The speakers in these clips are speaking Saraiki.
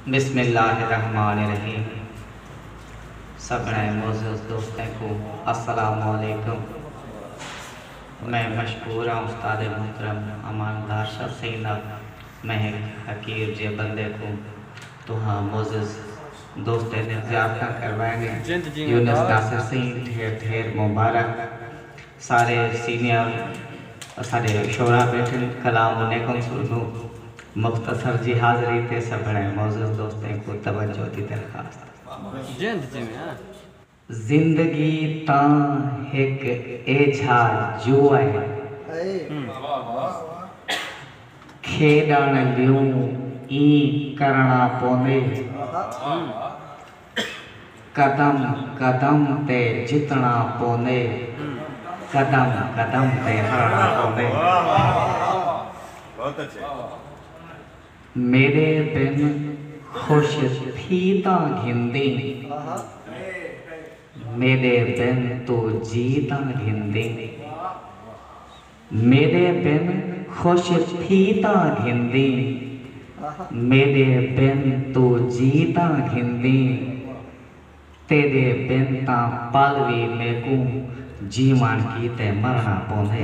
بسم اللہ الرحمن الرحیم سبھنیں معزز دوستیں کوں السلام علیکم میں مشکور ہاں استاد محترم امان دارشاہ سنگھ دا میں ہک حقیر جیہے بندے کوں تہاں معزز دوستیں نے زیارتاں کروائنیں یونس ناصر سنگھ ڈھیر ڈھیر مبارک سارے سینئر اساڈے شعراء بیٹھن کلام انیکم سو ردوں مختصر جی حاضری تے سبھڑیں معزز دوستیں کوں توجہ دی درخواست۔ زندگی تاں ہک ایجھا جوا ہے۔ کھیڈنڑ لیوں ایں کرنڑاں پوندے۔ قدم قدم تے جتنا پوندے قدم قدم تے ہرنا پوندے میݙے بن خوش تھی تاں گھندیں میݙے بن توں جی تاں گھندیں۔ میݙے بن خوش تھی تاں گھندیں میݙے بن توں جی تاں گھندیں تیݙے بن تاں پل وی میکوں جیوݨ کیتے مرݨا پوندے۔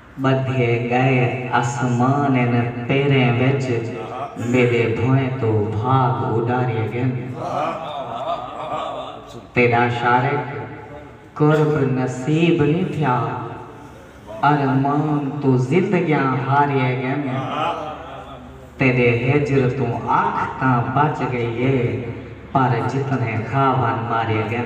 ٻدھے ڳئے اسمان ان پیریں وچ میݙے بھوئیں توں بھاڳ اݙاریے ڳن تیݙا شارق قرب نصیب نی تھیا ارمان توں زندگیاں ہاریے ڳن تیݙے ہجر توں اکھ تاں بچ ڳئی اے پر جتنے خوابن ماریے ڳن۔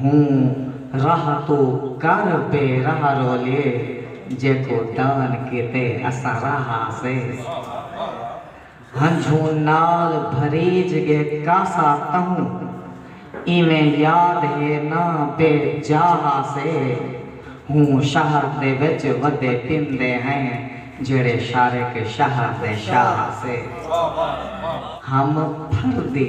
ہوں راہ توں کر بے راہ رولیے جیکو دان کیتے اساں راہ آسے ہنجھوں نال بھریج گے کاسا تہوں ایویں یاد ہے نہ بے جاہ آسے ہوں شہر دے وچ ودے پیندے ہیں جیڑھے شارق شہر دے شاہ آسے ہم پھردی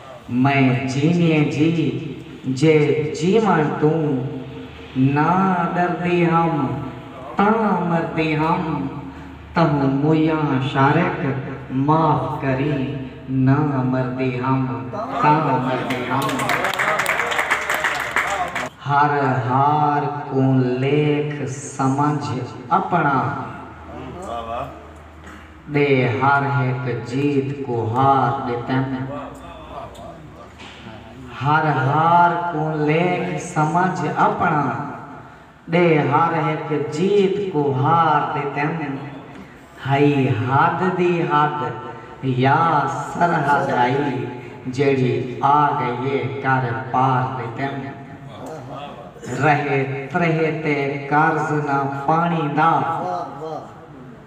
میں جینیے جی جے جیوݨ توں نہ ݙردی ہم تاں مردی ہم تہوں مویاں شارق معاف کریں نہ مردی ہم تاں مردی ہم ہر ہار کوں لیکھ سمجھ اپݨا۔ دے ہر ہک جیت کوں ہار ݙتن۔ ہر ہار کوں لیکھ سمجھ اپݨا دے ہر ہک جیت کوں ہار ݙتن۔ ہئی حد دی حد یا سرحد ہئی جیڑھی آ ڳئی اے کر پار ݙتن۔ رہے تریہہ تے قرض نہ پاݨی دا۔